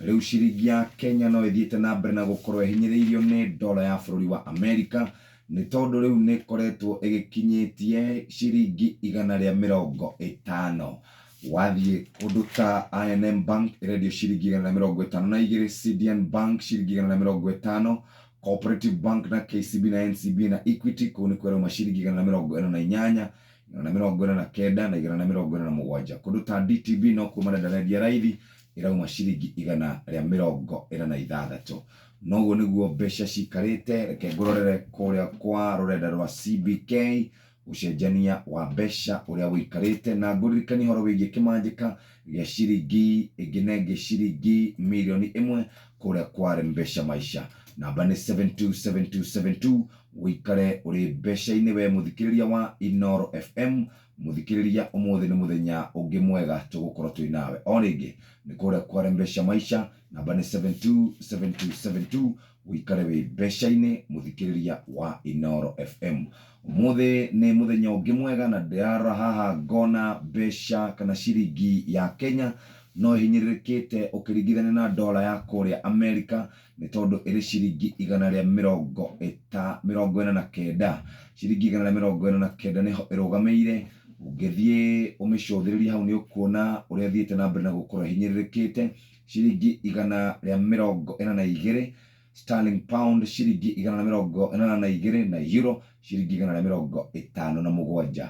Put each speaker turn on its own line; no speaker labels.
Rĩu ciringi ya Kenya no ĩthiĩte na mbere na gũkorũo ĩhinyĩrĩirio nĩ dollar ya bũrũri wa Amerika nĩ tondũ rĩu nĩ ĩkoretwo ĩgĩkinyĩtie ciringi igana rĩa mĩrongo ĩtano. Wathiĩ kũndũ ta I&M Bank ĩrendio ciringi igana rĩa mĩrongo ĩtano na igĩrĩ, Cedian Bank ciringi igana rĩa mĩrongo ĩtano, Cooperative Bank na KCB na NCBA na Equity kũu nĩkuo ĩrauma ciringi igana rĩa mĩrongo ĩna na inyanya, igana rĩa mĩrongo ĩna na kenda na igana rĩa mĩrongo ĩna na mũgwanja. Kũndũ ta DTB nokuo marenda rendia raithi. ĩrauma ciringi igana rĩa mĩrongo ĩna na ithathatũ. Na ũguo nĩguo mbeca cikarĩte, reke ngũrorere kũrĩa kwa rũrenda rwa CBK, ũcenjania wa mbeca ũrĩa wĩikarĩte, na ngũririkanie ũhoro wĩgiĩ kĩmanjĩka gĩa ciringi ĩngĩ na ĩngĩ ciringi mirioni ĩmwe kũrĩa kwa Mpesa Maisha. Namba nĩ 72727 wĩikare ũrĩ mbeca-inĩ we mũthikĩrĩria wa Inooro FM. Mũthikĩrĩria, ũmũthĩ nĩ mũthenya ũngĩ mwega tũgũkorwo twĩ nawe o rĩngĩ. Nĩ kũrĩa kwa Rembesha Maisha, namba nĩ 727272, ũikare wĩ mbeca-inĩ mũthikĩrĩria wa Inooro FM. Ũmũthĩ nĩ mũthenya ũngĩ mwega na ndĩrarora haha ngona mbeca kana ciringi ya Kenya no ĩhinyĩrĩrĩkĩte ũkĩringithania na ndora ya kũrĩa Amerika, nĩ tondũ ĩrĩ ciringi igana rĩa mĩrongo ĩta, mĩrongo ĩna na kenda, ciringi igana rĩa mĩrongo ĩna na kenda nĩho ĩrũgamĩire, ũngĩthiĩ ũmĩcũthĩrĩrie hau nĩũkuona ũrĩa ĩthiĩte na mbere na gũkorwo ĩhinyĩrĩrĩkĩte, ciringi igana rĩa mĩrongo ĩna na igĩrĩ, Sterling Pound ciringi igana rĩa mĩrongo ĩnana na igĩrĩ, na Euro ciringi igana rĩa mĩrongo ĩtano na mũgwanja.